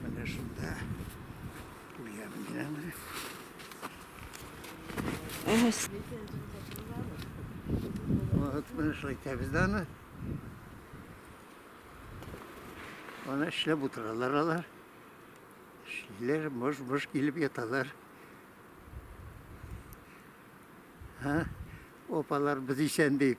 Менә шунда куям мин Вот мы шулай итәбез дә аны. Аны эшләп утыралар алар. Эшлиләр, мыш-мыш килеп яталар. Ха? Опалар без исән дип.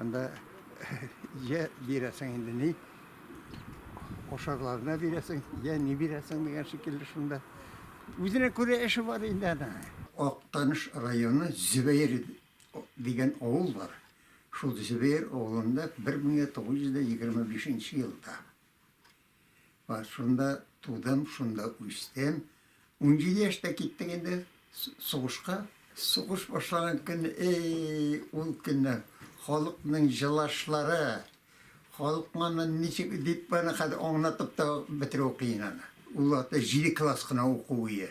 Анда йә бирәсең инде ни ашарларына бирәсең, йә ни бирәсең дигән шикелле шунда. Үзенә күрә эше бар инде ана. Актаныш районы Зөбәер дигән авыл бар. Шул Зөбәер авылында 1925 елда Бар, шунда тудым, шунда үстем. Унҗиде яшьтә киттек инде сугышка. Сугыш башлаган көн, әй, ул көннәр, халыкның җылашлары, халык моны ничек дип баны хәзер аңлатып та бетерү кыен аны. Ул вакытта җиде класс кына уку өе.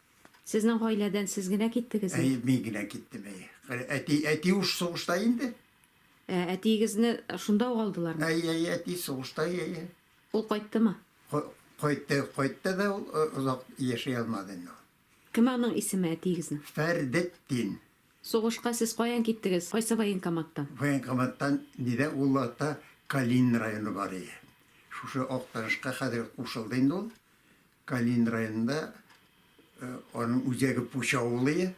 Сезнең гаиләдән сез генә киттегезме? Әй, мин генә киттем, әй. Әти, әти уж сугышта инде. Ә, әтиегезне шунда ук алдылармы? Әй, әй, әти сугышта, әй, әй. Ул кайттымы? Кайтты, кайтты да ул озак яши алмады инде. Кем аның исеме әтиегезнең? Фәрдетдин. Сугышка сез каян киттегез? Кайсы военкоматтан? Военкоматтан нидә ул вакытта Калинин районы бар иде. Шушы Актанышка хәзер кушылды инде ул. Калинин районында аның үзәге Пуч авылы.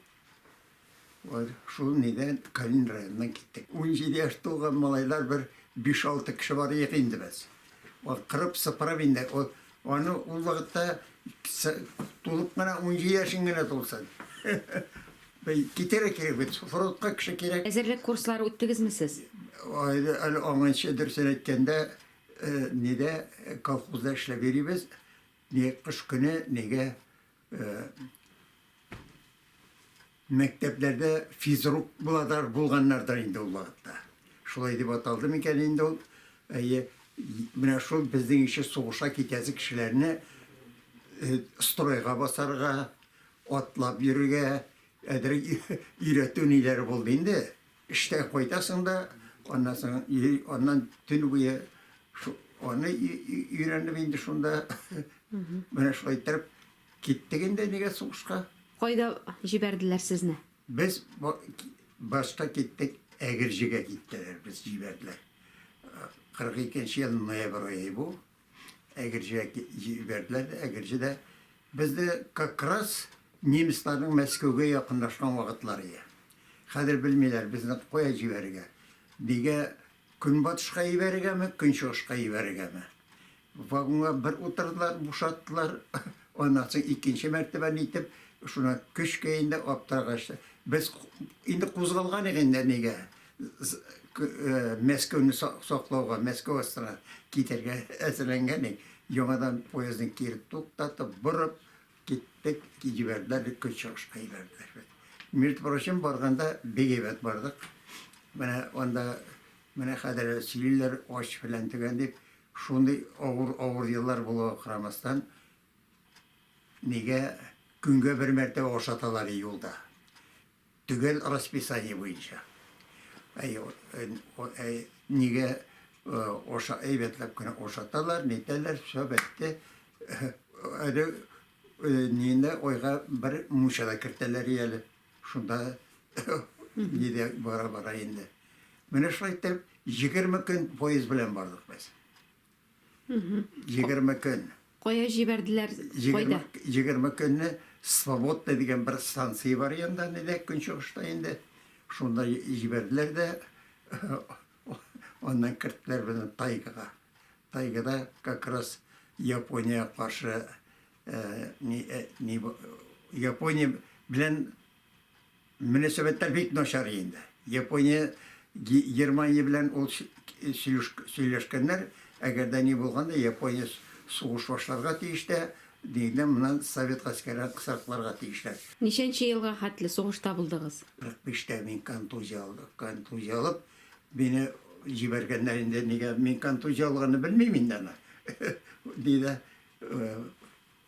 Вот шул нидән Калинин районыннан киттек. Унҗиде яшь тулган малайлар бер биш-алты кеше барыек инде без. Ул кырып-сыпырып инде ул аны ул вакытта тулып кына унҗиде яшең генә тулсын. Китәргә кирәк бит, фронтка кеше кирәк. Әзерлек курслары үттегезме сез? Әле аңынчы, дөресен әйткәндә, Нидә колхозда эшләп йөрибез, ни кыш көне нигә мәктәпләрдә физрук буладыр, булганнардыр инде ул вакытта. Шулай дип аталды микән инде ул? Әйе, менә шул безнең ише сугышка китәсе кешеләрне стройга басарга, атлап йөрергә әзрәк өйрәтү ниләре булды инде. Эштән кайтасың да, аннан соң йөри, аннан төн буе аны өйрәнеп инде шунда. Менә шулай иттереп киттек инде нигә сугышка. Кайда җибәрделәр сезне? Без башта киттек, Әгерҗегә киттеләр, без җибәрделәр. 42 нче ел ноябрь ае бу. Әгерҗегә җибәрделәр дә, Әгерҗедә безне как раз немецларның Мәскәүгә якынлашкан вакытлары иде. Хәзер белмиләр безне кая җибәрергә. Нигә көнбатышка җибәрергәме, көнчыгышка җибәрергәме? Вагонга бер утырдылар, бушаттылар. Аннан соң икенче мәртәбә нитеп, шуны көчкә инде аптырагач, без инде кузгалган идек инде нигә. Мәскәүне саклауга, Мәскәү астына китәргә әзерләнгән идек. Яңадан поездны кире туктатып, борып киттек, җибәрделәр, көч чыгышына җибәрделәр бит. Между прочим, барганда бик әйбәт бардык. Менә анда, менә хәзер сөйлиләр, ач фәлән төгән дип, шундый авыр, авыр еллар булуга карамастан, нигә көнгә бер мәртәбә ашаталар юлда? Төгәл расписание буенча. Әй, әй, нигә оша, әйбәтләп кенә ошаталар, нитәләр, все бетте. Әле нинә ойга бер мучада кертәләр әле. Шунда нидә бара-бара инде. Менә шулай итеп, егерме көн поезд белән бардык без. Егерме көн. Кая җибәрделәр? Кайда? Егерме көнне Свободный дигән бер станция бар Янданида, көнчыгышта инде. Шунда җибәрделәр дә, аннан керттеләр безне тайгага. Тайгада как раз Япония каршы, Япония белән Мөнәсәбәтләр бик начар инде. Япония, Германия белән ул сөйләшкәннәр, әгәр дә ни булган да, Япония сугыш башларга тиеш дә, нигездә моннан совет гаскәрен кысрыкларга тиешләр. Ничәнче елга хәтле сугышта булдыгыз? 45 тә мин контузия алдым. Контузия алып, мине җибәргәннәр инде, нигә мин контузия алганны белмим инде аны, диде.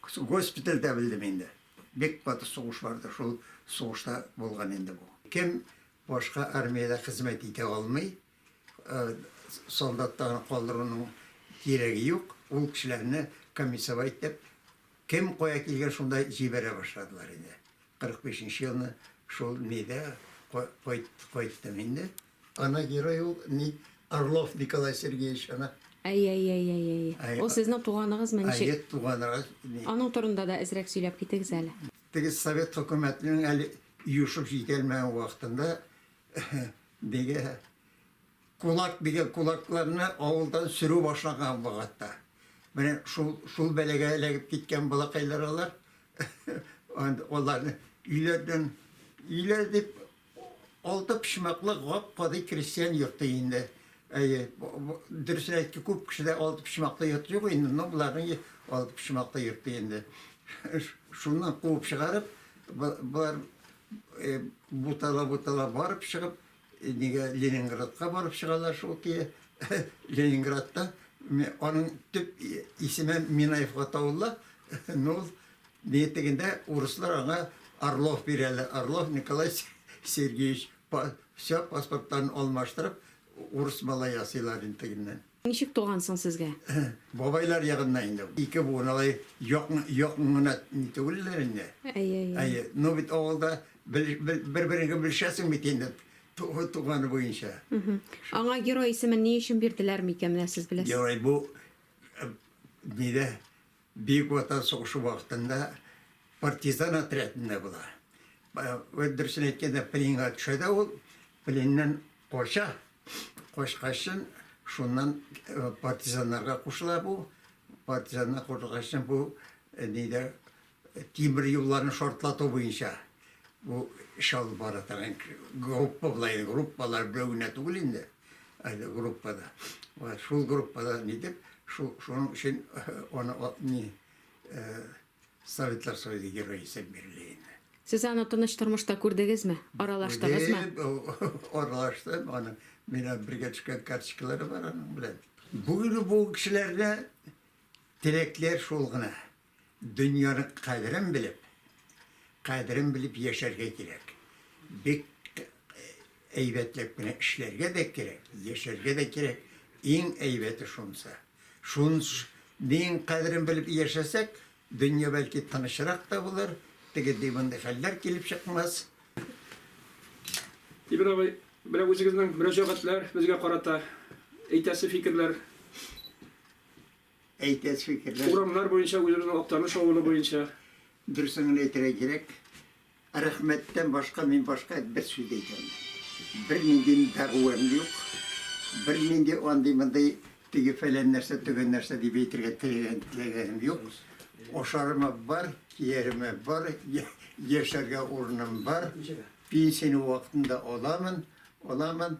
Госпитальдә белдем инде. Бик каты сугыш барды, шул сугышта булган инде бу. Кем башка армиядә хезмәт итә алмый, солдатта гына калдыруның кирәге юк, ул кешеләрне комиссовать итеп, кем кая килгән, шунда җибәрә башладылар инде. 45 нче елны шул мидә кайттым инде. Ана герой ул Ник Орлов Николай Сергеевич ана. Әй, әй, әй, әй, әй. Әй, Ул а- сезнең туганыгызмы ничек? Әйе, туганрак. ни. Аның турында да әзрәк сөйләп китегез әле. Теге совет хөкүмәтенең әле юшып җитәлмәгән вакытында диге кулак дигән кулакларны авылдан сөрү башлаган вакытта. Менә шул шул бәлагә эләгеп киткән балакайлар алар. Анд- Аларны өйләрдән өйләр дип Алты почмаклы гап-гади крестьян йорты инде. Әйе, дөресен әйтик, күп кешедә алты почмаклы йорт юк инде, но боларның алты почмаклы йорты инде. Шуннан куып чыгарып, болар бутала-бутала барып чыгып, нигә Ленинградка барып чыгалар шул көе. Ленинградта аның төп исеме Минаевка тавылла, но ул Битегендә урыслар аңа Орлов бирәләр. Орлов Николай Сергеевич все паспортларын алмаштырып, урыс малай ясыйлар инде тегеннән. Ничек туган соң сезгә? Бабайлар ягыннан инде. Ике буын алай якын гына түгелләр инде. Әйе, әйе. Әйе, ну бит авылда бер-береңне белешәсең бит инде туганы буенча. Аңа герой исемен ни өчен бирделәр микән, менә сез беләсез? Герой бу нидә Бөек Ватан сугышы вакытында партизан отрядында була. Вәт дөресен әйткәндә, пленга төшә дә ул, пленнән кача. Качкачын, шуннан партизаннарга кушыла бу. Партизаннар кушылгачын бу нидә тимер юлларны шартлату буенча бу эш алып бара торган группа була иде. Группалар берәү генә түгел инде. әле группада. Ва шул группада ни дип, шул шуның өчен аны ни Советлар Союзы герое исәп бирелә инде. Сез аны тыныч тормышта күрдегезме? Аралаштыгызмы? Аралаштым, аны мина бергә төшкән карточкалары бар аның белән. Бүген бу кешеләрдә теләкләр шул гына. Дөньяның кадерен белеп, кадерен белеп яшәргә кирәк. Бик әйбәтләп кенә эшләргә дә кирәк, яшәргә дә кирәк. Иң әйбәте шунсы. Шун нең кадерен белеп яшәсәк, дөнья бәлки тынычрак та булыр, теге ди мондый хәлләр килеп чыкмас. Тимер абый, менә үзегезнең мөрәҗәгатьләр, безгә карата әйтәсе фикерләр. әйтәс фикерләр. Урамнар буенча үзебезнең Актаныш авылы буенча. Дөресен генә әйтергә кирәк, рәхмәттән башка мин башка бер сүз дә әйтә алмыйм. Бернинди дәгъвам юк, бернинди андый-мондый теге-фәлән нәрсә, төгән нәрсә дип әйтергә теләгән, теләгәнем юк. Ашарыма бар, кияремә бар, яшәргә урыным бар, пенсияне вакытында аламын, аламын.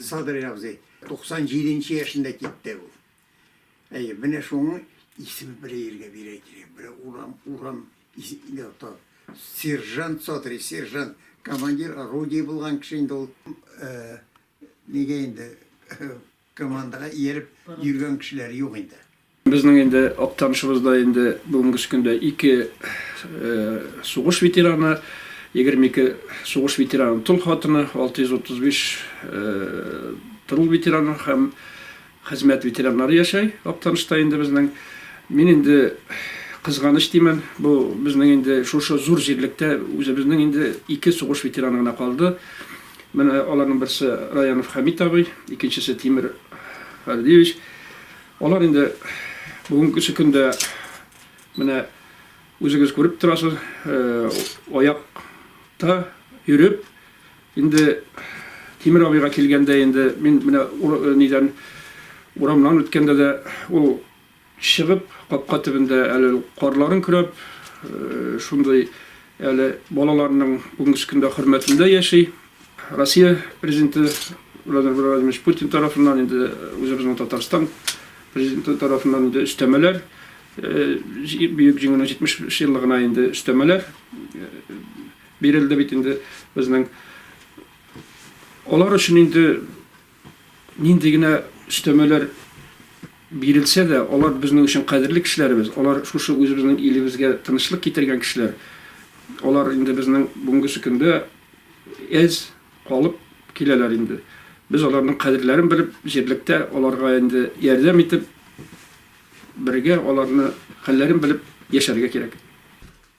Садри абзый 97 нче яшендә китте ул. Әйе, менә шуның исеме бер ергә бирә кирәк. Бер урам, урам исеме то. Сержант Садри, сержант, командир орудий булган кеше инде ул. Э, нигә инде Командага ияреп йөргән кешеләр юк инде. Безнең инде Актанышыбыз да инде бүгенгесе көндә ике сугыш ветераны, 22 сугыш ветераны тол хатыны, 635 тырул ветераны һәм хезмәт ветераннары яшәй Актанышта инде безнең. Мин инде кызганыч димен, бу безнең инде шушы зур җирлектә үзебезнең инде ике сугыш ветераны гына калды. Менә аларның берсе Раянов Хәмит абый, икенчесе Тимер Фәрдиевич. Алар инде бүгенге көндә менә үзегез күреп торасыз, аякта йөреп, инде Тимер абыйга килгәндә инде мин менә нидән урамнан үткәндә дә ул Чыгып, капка төбендә әле карларын көрәп, шундый әле балаларының бүгенге көндә хөрмәтендә яши. Россия Президенты Владимир Владимирович Путин тарафыннан инде үзебезнең Татарстан Президенты тарафыннан инде өстәмәләр, Бөек Җиңүнең 70 еллыгына инде өстәмәләр бирелде бит инде безнең. Алар өчен инде Нинди генә өстәмәләр бирелсә дә, алар безнең өчен кадерле кешеләребез, алар шушы үзебезнең илебезгә тынычлык китергән кешеләр. Алар инде безнең бүгенгесе көндә әз калып киләләр инде. Без аларның кадерләрен белеп, җирлектә аларга инде ярдәм итеп, бергә аларны хәлләрен белеп яшәргә кирәк.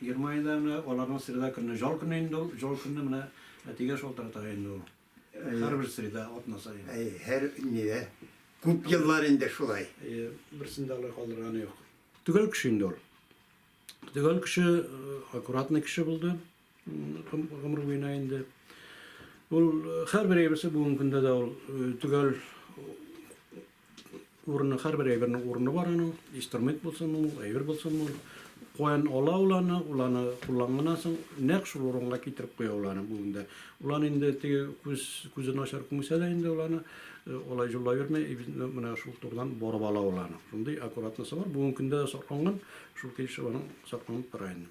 Германиядә менә аларның среда көнне җал көне инде ул, җал көнне менә әтигә шалтырата инде ул. Һәрбер среда атна саен. Әйе, һәр нидә. Күп еллар инде шулай. Әйе, берсен дә алай калдырганы юк. Төгәл кеше инде ул. Төгәл кеше, аккуратный кеше булды гомер буена инде. Ул һәрбер әйберсе бүгенге көндә дә ул төгәл Урыны, һәрбер әйбернең урыны бар аның. Инструмент булсынмы ул, әйбер булсынмы ул. Каян ала ул аны, ул аны кулланганнан соң нәкъ шул урынга китереп куя ул аны бүгенгә. Ул аны инде теге күз, күзе начар күмсә дә инде ул аны алай җуллап йөрми, менә шул турыдан барып ала ул аны. Шундый аккуратносы бар. Бүгенге көндә дә сакланган, шул тиешчә аның сакланып тора инде.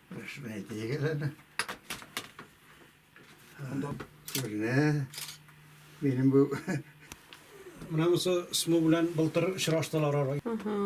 Рәшмәй дигел әле. Күренә. Минем бу Менә бусы СМУ белән былтыр очраштылар ара. Ана.